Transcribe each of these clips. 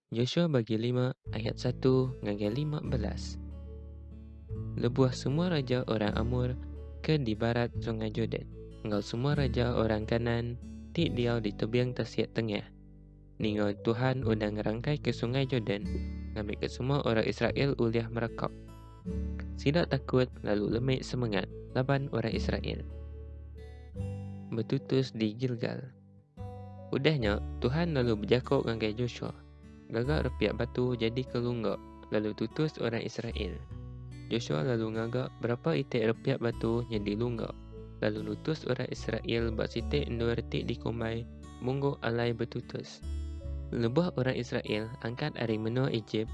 Joshua bagi lima ayat satu ngagai lima belas. Lebuh semua raja orang Amor ke di barat sungai Jordan enggau semua raja orang Kanaan ti diau di tebing tasik tengah ninga Tuhan udah ngerangkaika sungai Jordan ngambika semua orang Israel ulih merekap. Sida takut lalu lemi semengat laban orang Israel. Betutus di Gilgal. Udah nya, Tuhan lalu bejako ngagai Joshua, Gaga repiak batu jadika lungga, lalu tutus orang Israel. Joshua lalu ngaga berapa iti repiak batu nyadi lungga, lalu nutus orang Israel ba siti endur ti dikumbai Munggu Alai Betutus. Lebuh orang Israel angkat ari menua Ejip,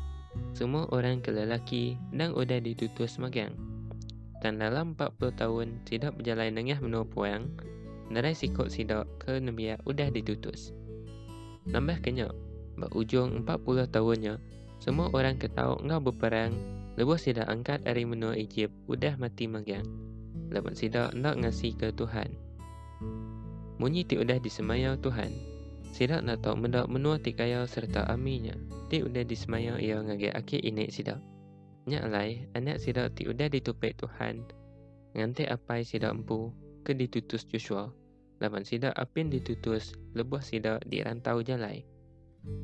semua orang ke lelaki endang udah ditutus magang. Tang dalam empat puluh taun sida bejalai nengah menua puang, nerai siku sida ke nembiak udah ditutus. Nambahka nya, ba ujung empat puluh taun nya, semua orang ke tau enggau beperang lebuh sida angkat ari menua Ejip udah mati magang, laban sida enda ngasika Tuhan. Munyi ti udah disemaya Tuhan, sida enda tau meda menua ti kaya sereta ami nya ti udah disemaya Iya ngagai aki inik sida. Nya alai, anak sida ti udah ditupik Tuhan nganti apai sida empu ke ditutus Joshua laban sida apin ditutus lebuh sida di rantau jalai.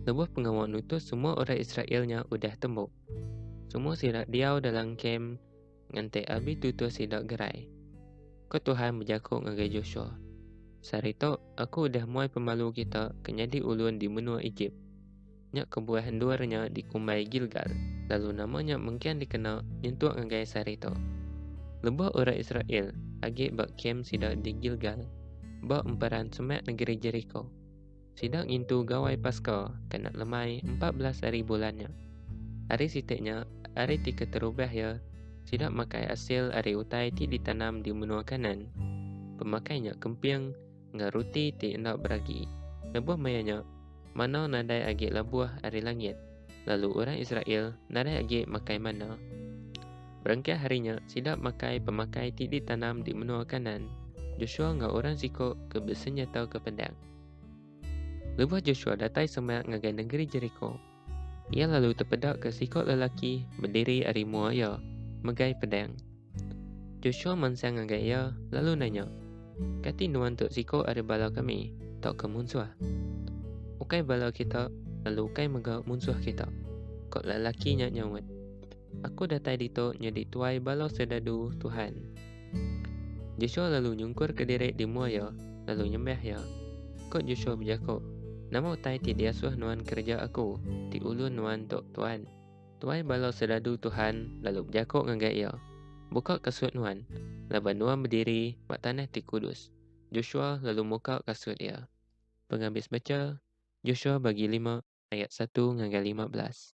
Lebuh pengawa nutus semua orang Israel nya udah tembu. Semua sida diau dalam kem nganti abi tutus sida gerai. Ko Tuhan bejaku ngagai Joshua, Sehari tu aku udah muai pemalu kita ke nyadi ulun di menua Ejip. Nya kebuah endur nya dikumbai Gilgal, lalu nama nya mengkang dikena nyentuk ngagai sehari tu. Lebuh orang Israel agi ba kem sida di Gilgal, ba emperan semak negeri Jeriko, sida ngintu Gawai Paska ke enda lemai empat belas hari bulan nya. Hari siti nya hari ti keterubah iya sida makai asil ari utai ti ditanam di menua Kanaan. Pemakai nya kemping enggau ruti ti enda beragi. Lebuh maya nya, manna nadai agi labuh ari langit, lalu orang Israel nadai agi makai manna. Berengkah ari nya, sida makai pemakai ti ditanam di menua Kanaan. Joshua enggau orang siko ke besenyataka pedang. Lebuh Joshua datai semak ngagai nengeri Jeriko, Iya lalu tepedaka siko lelaki bediri ari mua iya, megai pedang. Joshua mansang ngagai iya, lalu nanya, Kati nuan tu siko ari bala kami, tauka munsuh? Ukai bala kita, lalu ukai mega munsuh kita, ko lelaki nya nyaut. Aku datai ditu nyadi tuai bala serdadu Tuhan. Joshua lalu nyungkurka diri di mua iya, lalu nyembah iya. Ku Joshua bejaku, Nama utai ti diasuh nuan kereja aku, ti ulun nuan tu, Tuan? Tuai bala serdadu Tuhan lalu bejaku ngagai iya, Buka kasut nuan, laban nuan bediri ba tanah ti kudus. Joshua lalu muka kasut iya. Pengabis beca, Joshua bagi lima ayat satu ngagai lima belas.